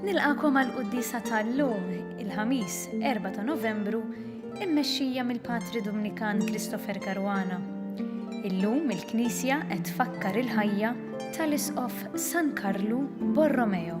Nilqakom għal quddisa tal-lum, il-Ħamis, 4 ta' Novembru, immexxija mill-Patri Dominikan Christopher Caruana. Illum il-Knisja qed tfakkar il-ħajja tal-Isqof San Karlu Borromeo.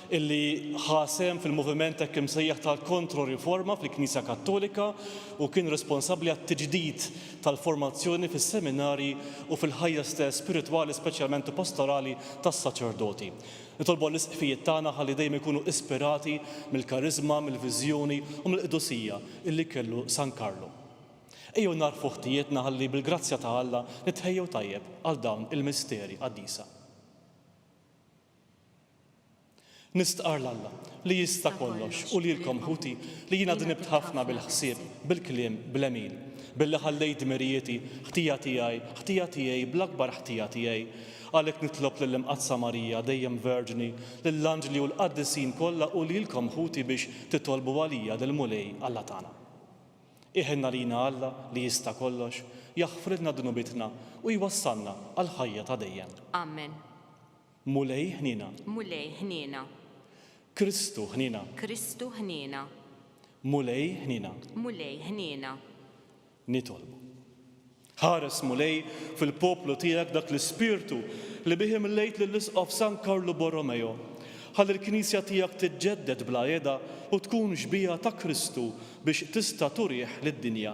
illi ħa sehem fil-moviment hekk imsejjaħ tal-Kontro-Riforma fil-Knisja Kattolika u kien responsabbli għat-tiġdid tal-formazzjoni fis-seminarji u fil-ħajja stess spiritwali speċjalment u pastorali tas-saċerdoti. Nitolbu għall-Isqfijiet tagħna ħalli dejjem ikunu ispirati mill-kariżma, mill-viżjoni u mill-qdusija illi kellu San Karlu. Ejjew nagħrfu ħtijietna ħalli bil-grazzja ta' Alla nitħejjew tajjeb għal dawn il-misteri qaddisa. Nistqarr 'l Alla, li jista' kollox, u lilkom, ħuti, li jiena dnibt ħafna bil-ħsieb, bil-kliem, bl-għemil, billi ħallejt dmirijieti, ħtija tiegħi, ħtija tiegħi, bl-akbar ħtija tiegħi. Għalhekk nitlob lill-Imqaddsa Marija, dejjem Verġni, lill-anġli u l-qaddisin kollha u lilkom, ħuti, biex titolbu għalija lill-Mulej Alla tagħna. Iħenn għalina Alla, li jista' kollox, jaħfrilna dnubietna u jwassalna għall-ħajja ta' dejjem. Amen. Mulej ħniena. Mulej ħniena. Kristu ħniena. Kristu ħniena. Mulej ħniena. Mulej ħniena. Nitolbu. Ħares, Mulej, fil-poplu tiegħek dak l-ispirtu li bih imlejt lill-Isqof San Karlu Borromeo, ħalli l-Knisja tiegħek tiġġedded bla heda u tkun xbieha ta' Kristu biex tista' turih lid-dinja.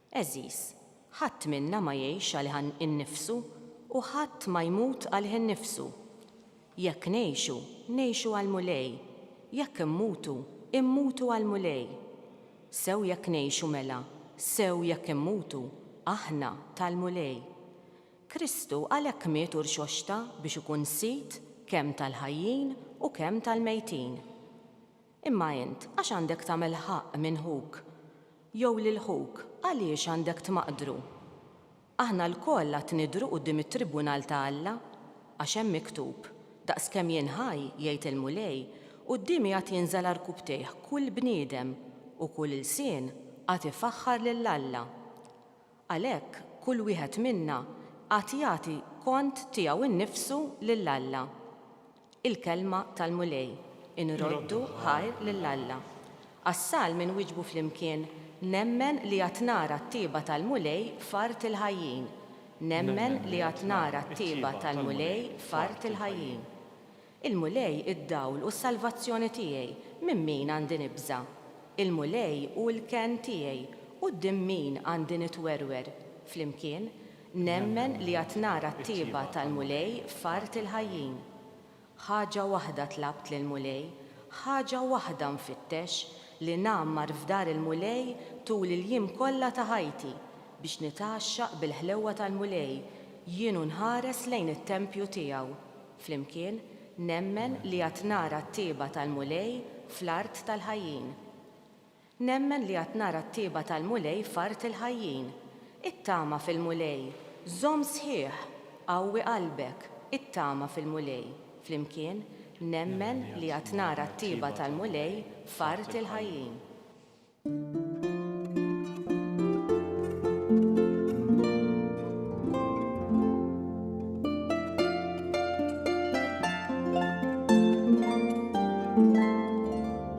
Għeżież, ħadd minna ma jgħix għalih innifsu u ħadd ma jmut għalih innifsu. Jekk ngħixu, ngħixu għall-Mulej, jekk immutu, immutu għall-Mulej. Sew jekk ngħixu mela, sew jekk immutu, aħna tal-Mulej. Kristu għalhekk miet u rxoxta biex ikun sid kemm tal-ħajjin u kemm tal-mejtin. Imma int għax għandek tagħmel ħaqq minn ħuk? Jew lil ħuk għaliex għandek tmaqdru? Aħna lkoll għad nidhru quddiem it-tribunal ta' Alla, għax hemm miktub, 'Daqskemm jien ħaj, jgħid il-Mulej, quddiemi għad jinżel għal rkubtejh kull bniedem, u kull ilsien għad ifaħħar lil Alla. Għalhekk, kull wieħed minna għad jagħti kont tiegħu nnifsu lil Alla. il-kelma tal-Mulej, inroddu ħajr lil Alla. Għas-salm inwieġbu flimkien, Nemmen li għad nara t-tjieba tal-Mulej f'art il-ħajjin. Nemmen li għad nara t-tjieba tal-Mulej f'art il-ħajjin. Il-Mulej id-dawl u s-salvazzjoni tiegħi, minn min għandi nibża'? Il-Mulej hu l-kenn tiegħi, quddiem min għandi nitwerwer? Flimkien, Nemmen li għad nara t-tjieba tal-Mulej f'art il-ħajjin. Ħaġa waħda tlabt lill-Mulej, ħaġa waħda nfittex, li ngħammar f'dar il-Mulej tul il-jiem kollha ta' ħajti, biex nitgħaxxaq bil-ħlewwa tal-Mulej, jien u nħares lejn it-tempju tiegħu. Flimkien, nemmen li għad nara t-tjieba tal-Mulej fl-art tal-ħajjin. Nemmen li għad nara t-tieba tal-Mulej f'art il-ħajjin. Ittama fil-Mulej! Żomm sħiħ! Qawwi qalbek! Ittama fil-Mulej! Flimkien, Nemmen li għad nara t-tieba tal-Mulej f'art il-ħajjin.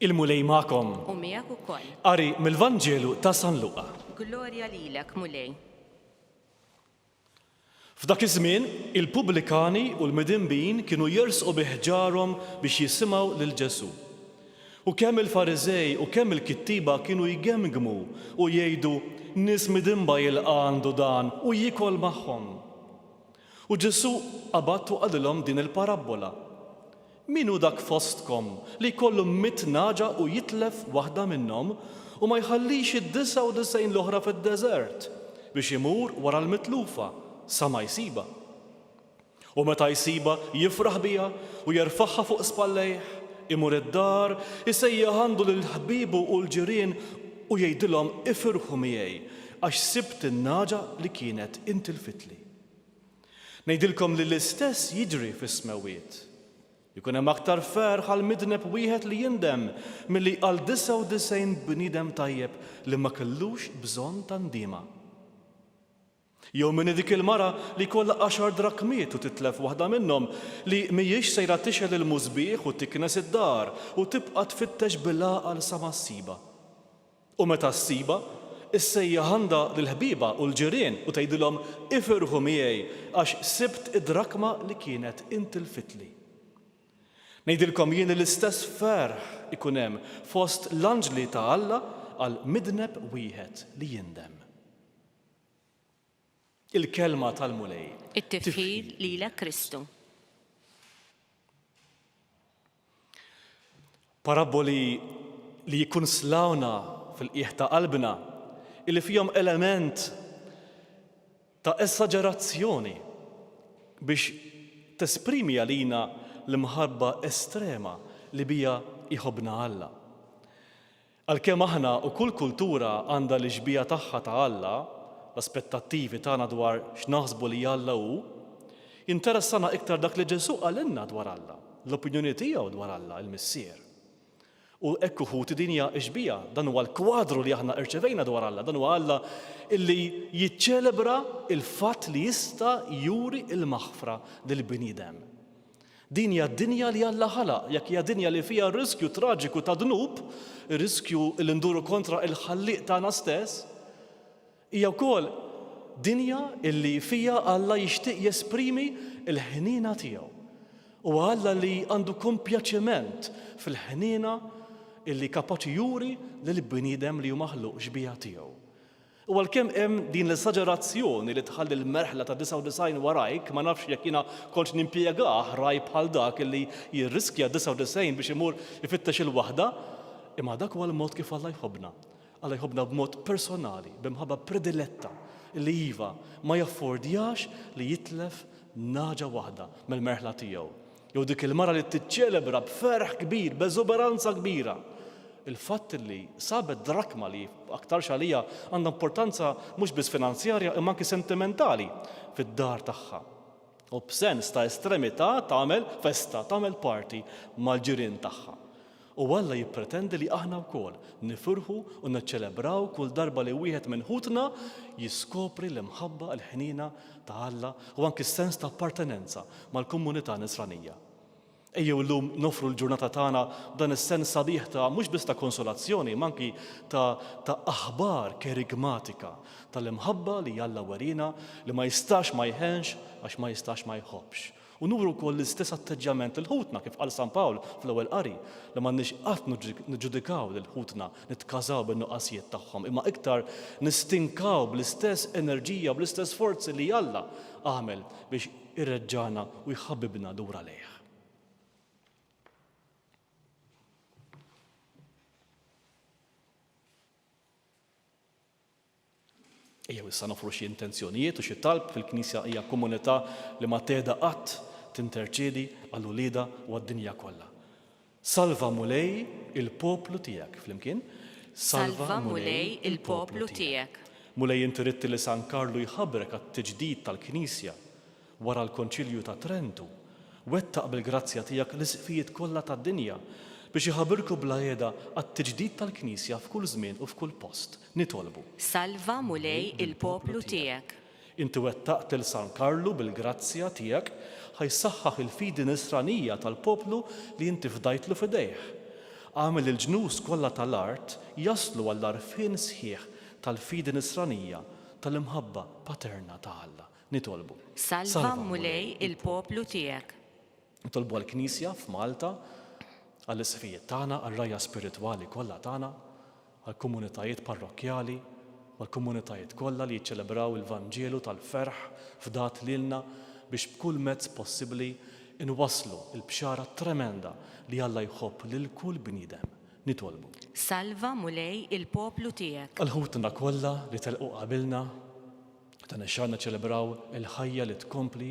Il-Mulej magħkom. U miegħek ukoll. Qari mill-Vanġelu ta' San Luqa. Glorja lilek, Mulej. F'dak iż-żmien, il-pubblikani u l-midinbin kienu jersqu bi ħġarhom biex jisimgħu lil Ġesù. U kemm il-Fariżej u kemm il-kittieba kienu jgemmgmu u jgħidu, Nies midinba jilqa' għandu dan u jiekol magħhom. U Ġesù qabad u qalilhom din il-parabbola, Min hu dak fostkom li jkollu mitt nagħġa u jitlef waħda minnhom u ma jħallix id-disgħa u disgħin l-oħra fid-deżert biex imur wara l-mitlufa sa ma jsibha? U meta jsibha, jifraħ biha u jerfagħha fuq spallejh, imur id-dar, isejjaħ għandu lil ħbiebu u l-ġirien u jgħidilhom, 'Ifirħu miegħi, għax sibt in-nagħġa li kienet intilfitli. Ngħidilkom li l-istess jiġri fis-smewwiet. Ikun hemm aktar ferħ għal midneb wieħed li jindem milli għal 99 bniedem tajjeb li ma kellux bżonn ta' ndiema. Jew min hi dik il-mara li jkollha għaxar drakkmiet u titlef waħda minnhom, li mhijiex sejra tixgħel il-musbieħ u tiknes id-dar u tibqa' tfittex bil-għaqal sa ma ssibha? U meta ssibha, issejjaħ għandha lill-ħbieba u l-ġirien u tgħidilhom, 'Ifirħu miegħi, għax sibt id-drakma li kienet intilfitli. Ngħidilkom jien li l-istess ferħ ikun hemm fost l-anġli ta' Alla għal midneb wieħed li jindem. Il-Kelma tal-Mulej. It-tifħir lilek Kristu. Parabboli li jikkunslawna fil-qiegħ ta' qalbna, illi fihom element ta' esaġerazzjoni biex tesprimi għalina l-imħabba estrema li biha jħobbna Alla. Għalkemm aħna u kull kultura għandha l-ixbiha tagħha ta' Alla, l-aspettattivi tagħna dwar x'naħsbu li Alla hu, jinteressana iktar dak li Ġesù qalilna dwar Alla, l-opinjoni tiegħu dwar Alla, il-Missier. U hekk hu ħuti din hija ixbiha, dan huwa l-kwadru li aħna rċevejna dwar Alla, dan huwa Alla li jiċċelebra l-fatt li jista' juri l-maħfra lill-bniedem. Din hija d-dinja li Alla ħalaq. Jekk hija dinja li fiha r-riskju traġiku ta' dnub, ir-riskju li nduru kontra l-Ħallieq tagħna stess, hija wkoll dinja li fiha Alla jixtieq jesprimi l-ħniena tiegħu. Huwa Alla li għandu kompjaċiment fil-ħniena li kapaċi juri lill-bniedem li hu maħluq xbieha tiegħu. U għalkemm hemm din l-esaġerazzjoni li tħalli l-merħla ta' 99 warajk, ma nafx jekk jiena kontx nimpjega ħrajb bħal dak li jirriskja d-99 biex imur ifittex il-waħda, imma dak huwa l-mod kif Alla jħobbna. Alla jħobbna b'mod personali, b'imħabba prediletta, li iva, ma jaffordjax li jitlef nagħġa waħda mill-merħla tiegħu. Jew dik il-mara li tiċċelebra b'ferħ kbir, b'eżuberanza kbira, il-fatt li sabet drakma li, aktarx għaliha, għandha importanza mhux biss finanzjarja imma anki sentimentali fid-dar tagħha. U b'sens ta' estremità tagħmel festa, tagħmel party mal-ġirien tagħha. U Alla jippretendi li aħna wkoll nifirħu u niċċelebraw kull darba li wieħed minn ħutna jiskopri l-imħabba, il-ħniena ta' Alla u anki s-sens ta' appartenenza mal-komunità Nisranija. Ejjew illum noffru l-ġurnata tagħna b'dan is-sens sabiħ ta' mhux biss ta' konsolazzjoni imma anki ta' ta' aħbar kerigmatika tal-imħabba li Alla weriena li ma jistax ma jħenx għax ma jistax ma jħobbx. U nuru wkoll l-istess atteġġjament lil ħutna, kif qal San Pawl fl-Ewwel Qari, li m'għandniex qatt niġġudikaw lil ħutna, nitkażaw bin-nuqqasijiet tagħhom, imma iktar nistinkaw bl-istess enerġija u bl-istess sforzi li Alla għamel biex ireġġagħna u jħabbibna lura lejh. Ejjew issa noffru xi intenzjonijiet u xi talb. Il-Knisja hija komunità li ma tehda qatt tinterċedi għal uliedha u għad-dinja kollha. Salva, Mulej, il-poplu tiegħek. Flimkien, Salva, Mulej, il-poplu tiegħek. Mulej, inti ridt li San Karlu jħabrek għat-tiġdid tal-Knisja. Wara l-Konċilju ta' Trentu, wettaq bil-grazzja tiegħek l-Isqfijiet kollha tad-dinja biex iħabirku bla heda għat-tiġdid tal-Knisja f'kull żmien u f'kull post. Nitolbu. Salva, Mulej, il-poplu tiegħek. Inti wettaqt lil San Karlu bil-grazzja tiegħek ħa jsaħħaħ il-fidi Nisranija tal-poplu li inti fdajtlu f'idejh. Agħmel li l-ġnus kollha ta' l-art jaslu għall-għarfien sħiħ tal-fidi Nisranija ta' l-imħabba paterna ta' Alla. Nitolbu. Salva, Mulej, il-poplu tiegħek. Nitolbu għall-Knisja f'Malta, għall-isqfijiet tagħna, għar-rgħajja spiritwali kollha tagħna, għall-komunitajiet parrokkjali u għall-komunitajiet kollha li jiċċelebraw il-Vanġelu tal-ferħ fdat lilna biex b'kull mezz possibbli nwasslu l-bxara tremenda li Alla jħobb lil kull bniedem. Nitolbu. Salva, Mulej, il-poplu tiegħek. Għal ħutna kollha li telqu qabilna, Dan ix-xahar niċċelebraw il-ħajja li tkompli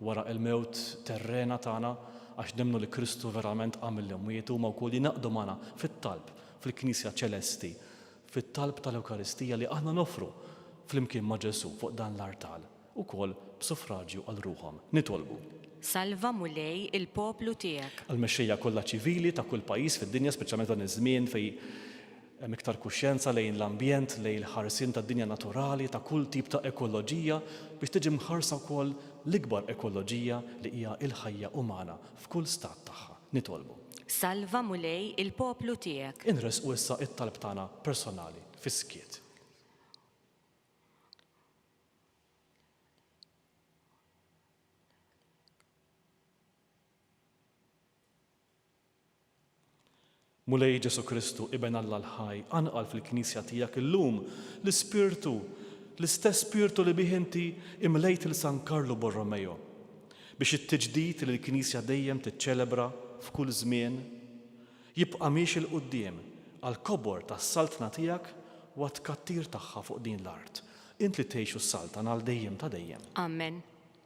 wara l-mewt terrena tagħna għax nemmnu li Kristu verament qam mill-imwiet. Huma wkoll jingħaqdu magħna fit-talb fil-Knisja ċelesti, fit-talb tal-Ewkaristija li aħna noffru flimkien ma' Ġesù fuq dan l-artal, ukoll b'suffraġju għal ruħhom. Nitolbu. Salva, Mulej, il-poplu tiegħek. Għall-mexxejja kollha ċivili ta' kull pajjiż fid-dinja, speċjalment f'dan iż-żmien fejn Hemm iktar kuxjenza lejn l-ambjent, lejn il-ħarsien tad-dinja naturali, ta' kull tip ta' ekoloġija, biex tiġi mħarsa wkoll l-ikbar ekoloġija li hija l-ħajja umana f'kull stat tagħha. Nitolbu. Salva, Mulej, il-poplu tiegħek. Inressqu issa t-talb tagħna personali fis-skiet. Mulej Ġesù Kristu, Iben Alla l-ħaj, qanqal fil-Knisja tiegħek illum l-ispirtu, l-istess spirtu li bih inti imlejt lil San Karlu Borromeo, biex it-tiġdid li l-Knisja dejjem tiċċelebra f'kull żmien, jibqa' miexi 'l quddiem għall-kobor tas-Saltna tiegħek u għat-tkattir tagħha fuq din l-art, int li tgħix u ssaltan għal dejjem ta' dejjem. Amen.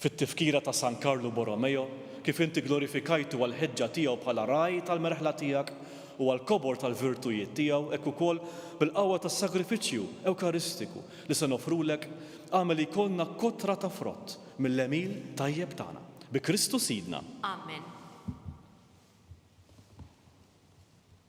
Fit-Tifkira ta' San Karlu Borromeo, kif inti glorifikajtu għall-ħeġġa tiegħu bħala Ragħaj tal-merħla tiegħek u għall-kobor tal-virtujiet tiegħu, hekk ukoll, bil-qawwa tas-sagrifiċċju Ewkaristiku li se noffrulek, agħmel li jkollna kotra ta' frott mill-għemil tajjeb tagħna. Bi Kristu Sidna. Amen.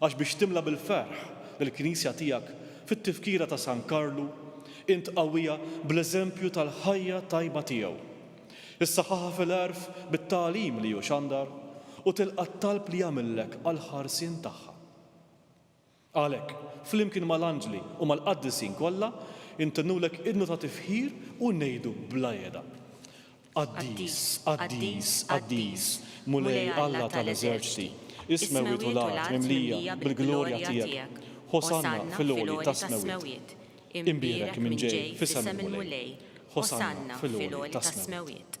Għax biex timla bil-ferħ il-Knisja tiegħek fit-Tifkira ta' San Karlu, int qawwiha bl-eżempju tal-ħajja tajba tiegħu. Issaħħaħha fil-għerf bit-tagħlim li hu xandar u tilqa' t-talb li għamillek għall-ħarsien tagħha. Għalhekk, flimkien mal-anġli u mal-qaddisin kollha, intennulek idnu ta' tifħir u ngħidu bla jeda, Qaddis, qaddis, qaddis, Mulej Alla ta' l-eżerċti, is-smewwiet u l-art mimlija bil-glorja tiegħek, Hosanna fil-għoli tas-smewwiet. Imbierek min ġej f'isem il-Mulej, Hosanna fil-għoli tas-smewwiet.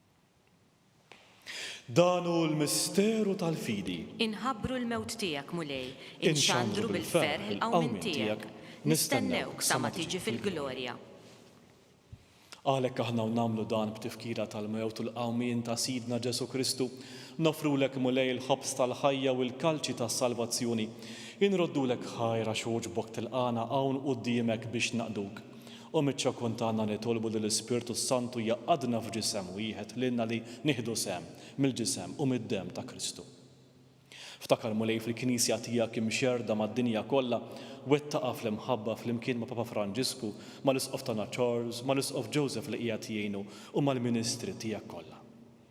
Dan hu l-misteru tal-fidi. Inħabbru l-mewt tiegħek, Mulej. Inxandru bil-ferħ il-qawmien tiegħek. Nistennewk sa ma tiġi fil-glorja. Għalhekk aħna u nagħmlu dan b'tifkira tal-mewt u l-qawmien ta' Sidna Ġesù Kristu, noffrulek, Mulej, il-ħobż tal-ħajja u l-kalċi tas-salvazzjoni. Inroddulek ħajr għax għoġbok tilqagħna hawn quddiemek biex naqduk. U miċ-ċokun tagħna nitolbu li l-Ispirtu s-Santu jgħaqqadna f'ġisem wieħed lilna li nieħdu sehem mill-ġisem u mid-demm ta' Kristu. Ftakar Mulej fil-Knisja tiegħek imxerrda mad-dinja kollha, wettaqha fl-imħabba flimkien ma' Papa Franġisku, mal-Isqof tagħna Charles, mal-Isqof Joseph li qiegħed jgħinu u mal-ministri tiegħek kollha.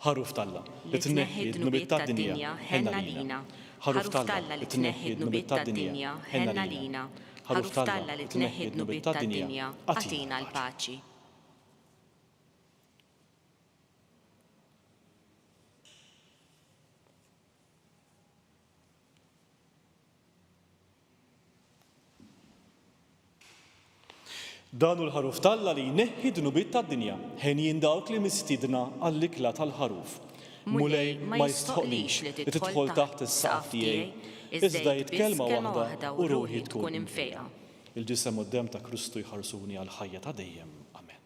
Ħaruf t'Alla, li tneħħi d-dnubiet tad-dinja, ħenn għalina. Ħaruf t'Alla, li tneħħi d-dnubiet tad-dinja, ħenn għalina. Ħaruf t'Alla, li tneħħi d-dnubiet tad-dinja, agħtina l-paċi. Dan hu l-Ħaruf t'Alla li jneħħi d-dnubiet tad-dinja. Henjin dawk li mistiedna għall-ikla tal-Ħaruf. Mulej ma jistħoqqlix li tidħol taħt is-saqaf tiegħi, iżda għid kelma waħda u ruħi tkun imfejqa. Il-Ġisem u d-Demm ta' Kristu jħarsuni għall-ħajja ta' dejjem. Amen.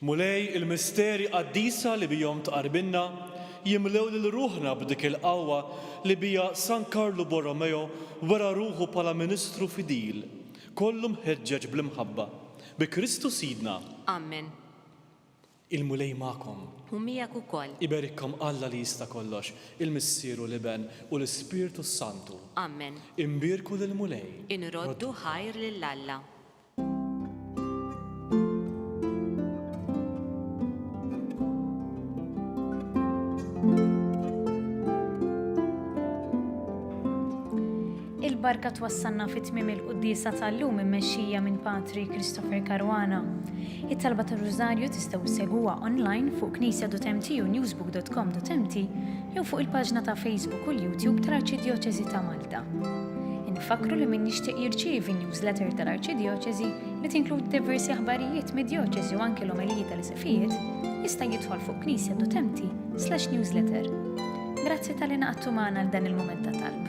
Mulej, il-misteri qaddisa li bihom tqarrbilna jimlew lil ruħna b'dik il-qawwa li biha San Karlu Borromeo wera ruħu bħala ministru fidil, kollu mħeġġeġ bl-imħabba. Bi Kristu Sidna. Amen. Il-Mulej magħkom. U miegħek ukoll. Iberikkom Alla li jista' kollox, il-Missier u l-Iben u l-Ispirtu s-Santu. Amen. Imbierku lill-Mulej. Inroddu ħajr lil Alla. il-barka twassalna fit tmiem il-quddisa tal-lum immexxija minn Patri Christopher Caruana. It-talba tar-Rużarju tistgħu segwa online fuq knisja.mt u newsbook.com.mt jew fuq il-paġna ta' Facebook u l-YouTube tal-Arċidjoċesi ta' Malta. Malta. Infakkru li min jixtieq jirċievi n-newsletter tal-Arċidjoċesi li tinkludi diversi aħbarijiet mid-djoċesi u anki l-omeliji tal-isqfijiet, jista' jidħol fuq Knisja Dutempti slash newsletter. Grazzi tal-li naqattu magħna dan il-mument ta' talb.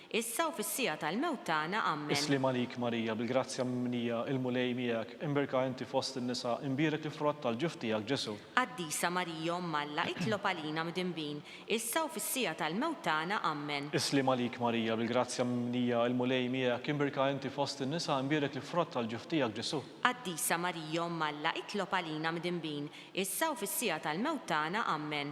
Issa u fis-siegħa tal-mewt tagħna. Ammen. Is-sliem għalik Marija, bil-grazzja mimlija, il-Mulej miegħek, imbierka inti fost in-nisa, imbierek il-frott tal-ġuf tiegħek, Ġesù. Qaddisa Marija Omm Alla, itlob għalina mdinbin, issa u fis-siegħa tal-mewt tagħna. Ammen. Is-sliem għalik Marija, bil-grazzja mimlija, il-Mulej miegħek, imbierka inti fost in-nisa, imbierek il-frott tal-ġuf tiegħek, Ġesù. Qaddisa Marija Omm Alla, itlob għalina mdinbin, issa u fis-siegħa tal-mewt tagħna. Ammen.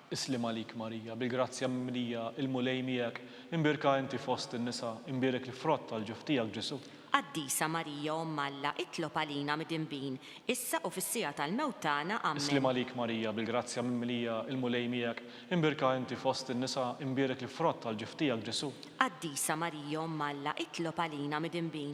Isliem għalik Marija, bil-grazzja mimlija, il-Mulej miegħek, imbierka inti fost in-nisa, imbierek l-frott tal-ġuf tiegħek Ġesù. Qaddisa Marija Omm Alla, itlob għalina midinbin, issa u fis-siegħa tal-mewt tagħna. Ammen. Isliem għalik Marija, bil-grazzja mimlija, il-Mulej miegħek, imbierka inti fost in-nisa, imbierek l-frott tal-ġuf tiegħek Ġesù. Qaddisa Marija Omm Alla, itlob għalina midinbin,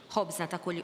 Ħobżna ta' kull.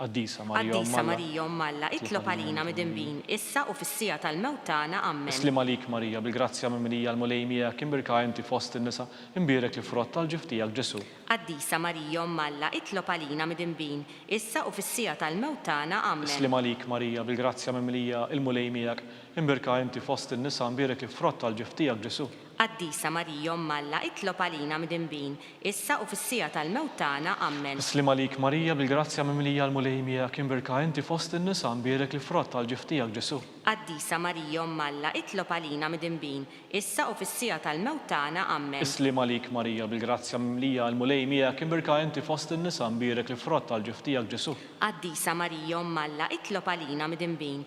Qaddisa Marija Omm Alla. Qaddisa Marija Omm Alla, itlob għalina midinbin, issa u fis-siegħa tal-mewt tagħna. Ammen. Is-sliem għalik Marija, bil-grazzja mimlija l-Mulej miegħek, imbierka inti fost in-nisa, imbierek l-frott tal-ġuf tiegħek Ġesù. Qaddisa Marija Omm Alla, itlob għalina midinbin, issa u fis-siegħa tal-mewt tagħna. Ammen. Is-sliem għalik Marija, bil-grazzja mimlija l-Mulej miegħek, imbierka inti fost in-nisa, imbierek l-frott tal-ġuf tiegħek Ġesù. Qaddisa Marija Omm Alla itlob għalina midinbin, issa u fis-siegħa tal-mewt tagħna. Ammen. Is-sliem għalik Marija bil-grazzja mimlija l-Mulej miegħek imbierka inti fost in-nisa mbierek l-frott tal-ġiff tiegħek Ġesù. Qaddisa Marija Omm Alla itlob għalina midinbin, issa u fis-siegħa tal-mewt tagħna. Ammen. Is-sliem għalik Marija bil-grazzja mimlija l-Mulej miegħek imbierka inti fost in-nisa mbierek l-frott tal-ġiff tiegħek Ġesù. Qaddisa Marija Omm Alla itlob għalina midinbin,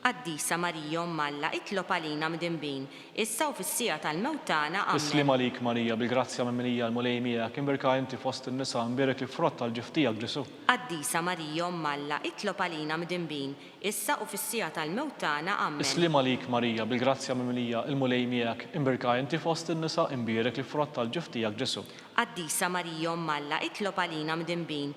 Qaddisa Marija Omm Alla, itlob għalina mdinbin, issa u fis-siegħa tal-mewt tagħna. Is-sliem għalik Marija, bil-grazzja mimlija l-Mulej miegħek, imbierka inti fost in-nisa, imbierek il-frott tal-ġuf tiegħek Ġesù. Qaddisa Marija Omm Alla, itlob għalina mdinbin, issa u fis-siegħa tal-mewt tagħna. Ammen. Is-sliem għalik Marija, bil-grazzja mimlija l-Mulej miegħek, imbierka inti fost in-nisa, imbierek il-frott tal-ġuf tiegħek Ġesù. Qaddisa Marija Omm Alla, itlob għalina mdinbin,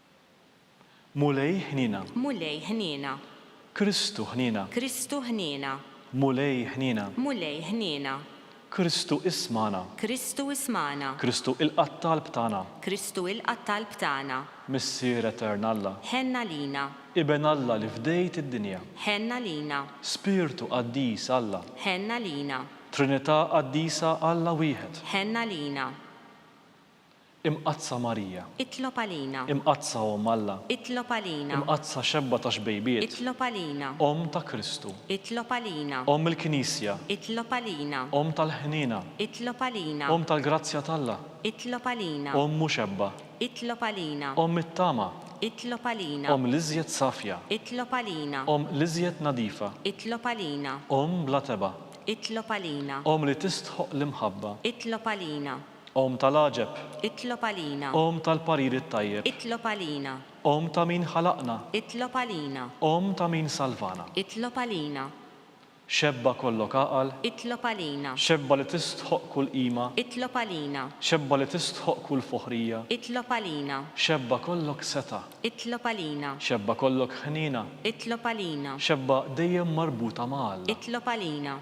Mulej ħniena. Mulej ħniena. Kristu ħniena. Kristu ħniena. Mulej ħniena. Mulej ħniena. Kristu ismagħna. Kristu ismagħna. Kristu ilqa' t-talb tagħna. Kristu ilqa' t-talb tagħna. Missier Etern Alla. Ħenn għalina. Iben Alla li fdejt id-dinja. Ħenn għalina. Spirtu qaddis Alla. Ħenn għalina. Trinità qaddisa Alla wieħed. Ħenn għalina. Imqaddsa Marija. Itlob għalina. Imqaddsa Omm Alla. Itlob għalina. Imqaddsa Xebba ta' Xbejbiet. Itlob għalina. Omm ta' Kristu. Itlob għalina. Omm il-Knisja. Itlob għalina. Omm tal-ħniena. Itlob għalina. Omm tal-grazzja t'Alla. Itlob għalina. Omm u Xebba. Itlob għalina. Omm it-tama. Itlob għalina. Omm l-iżjed safja. Itlob għalina. Omm l-iżjed nadifa. Itlob għalina. Omm bla tebgħa. Itlob għalina. Omm li tistħoqq l-imħabba. Itlob għalina. Omm tal-għaġeb. Itlob għalina. Omm tal-parir it-tajjeb. Itlob għalina. Omm ta' min ħalaqna. Itlob għalina. Omm ta' min salvana. Itlob għalina. Xebba kollok għaqal. Itlob għalina. Xebba li tistħoqq kull qima. Itlob għalina. Xebba li tistħoqq kull foħrija. Itlob għalina. Xebba kollok setgħa. Itlob għalina. Xebba kollok ħniena. Itlob għalina. Xebba dejjem marbuta ma' Alla. Itlob għalina.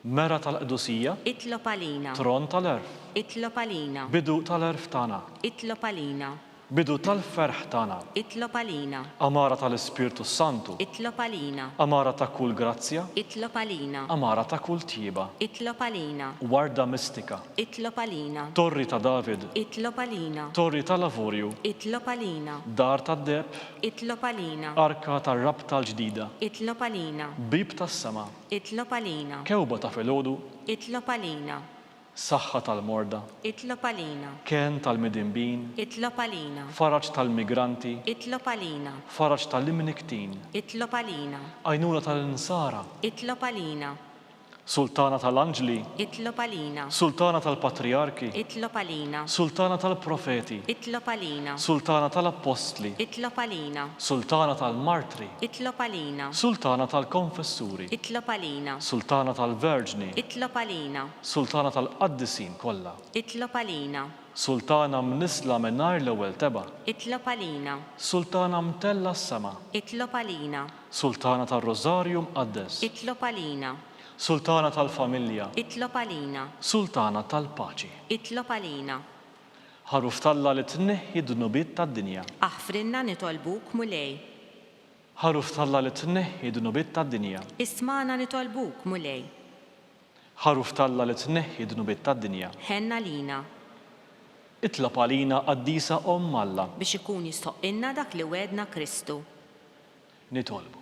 Mera tal-qdusija. Itlob għalina. Tron tal-għerf. Itlob għalina. Bidu tal-għerf tagħna. Itlob għalina. Bidu tal-ferħ tagħna. Itlob għalina. Għamara tal-Ispirtu s-Santu. Itlob għalina. Għamara ta' kull grazzja. Itlob għalina. Għamara ta' kull tjieba. Itlob għalina. Warda mistika. Itlob għalina. Torri ta' David. Itlob għalina. Torri tal-avurju. Itlob għalina. Dar tad-deheb. Itlob għalina. Arka tar-rabta l-ġdida. Itlob għalina. Bieb tas-sema. Itlob għalina. Kewba ta' filgħodu. Itlob għalina. Saħħa tal-morda. Itlob għalina. Kenn tal-midinbin. Itlob għalina. Faraġ tal-migranti. Itlob għalina. Faraġ tal-imnikktin. Itlob għalina. Għajnuna tal-insara. Itlob għalina. Sultana tal-anġli. Itlob għalina. Sultana tal-patrijarki. Itlob għalina. Sultana tal-profeti. Itlob għalina. Sultana tal-appostli. Itlob għalina. Sultana tal-martri. Itlob għalina. Sultana tal-Konfessuri. Itlob għalina. Sultana tal-Verġni. Itlob għalina. Sultana tal-Qaddisin kollha. Itlob għalina. Sultana mnissla mingħajr l-ewwel tebgħa. Itlob għalina. Sultana mtellgħa s-sema. Itlob għalina. Sultana tar-Rożarju Mqaddes. Itlob għalina. Sultana tal-Familja. Itlob għalina. Sultana tal-Paċi. Itlob għalina. Ħaruf t'Alla li tneħħi d-dnubiet tad-dinja. Aħfrilna nitolbuk, Mulej. Ħaruf t'Alla li tneħħi d-dnubiet tad-dinja. Ismagħna nitolbuk, Mulej. Ħaruf t'Alla li tneħħi d-dnubiet tad-dinja. Ħenn għalina. Itlob għalina Qaddisa Omm Alla. Biex ikun jistoqqilna dak li wegħedna Kristu. Nitolbu.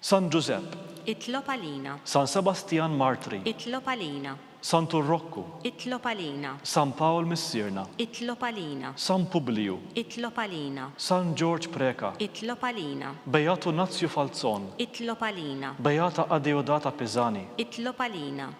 San Ġużepp. Itlob għalina. San Sebastjan Martri. Itlob għalina. San Turrokku. Itlob għalina. San Pawl Missierna. Itlob għalina. San Publiju. Itlob għalina. San Ġorġ Preca. Itlob għalina. Beatu Nazju Falzon. Itlob għalina. Beata Adeodata Pisani. Itlob għalina.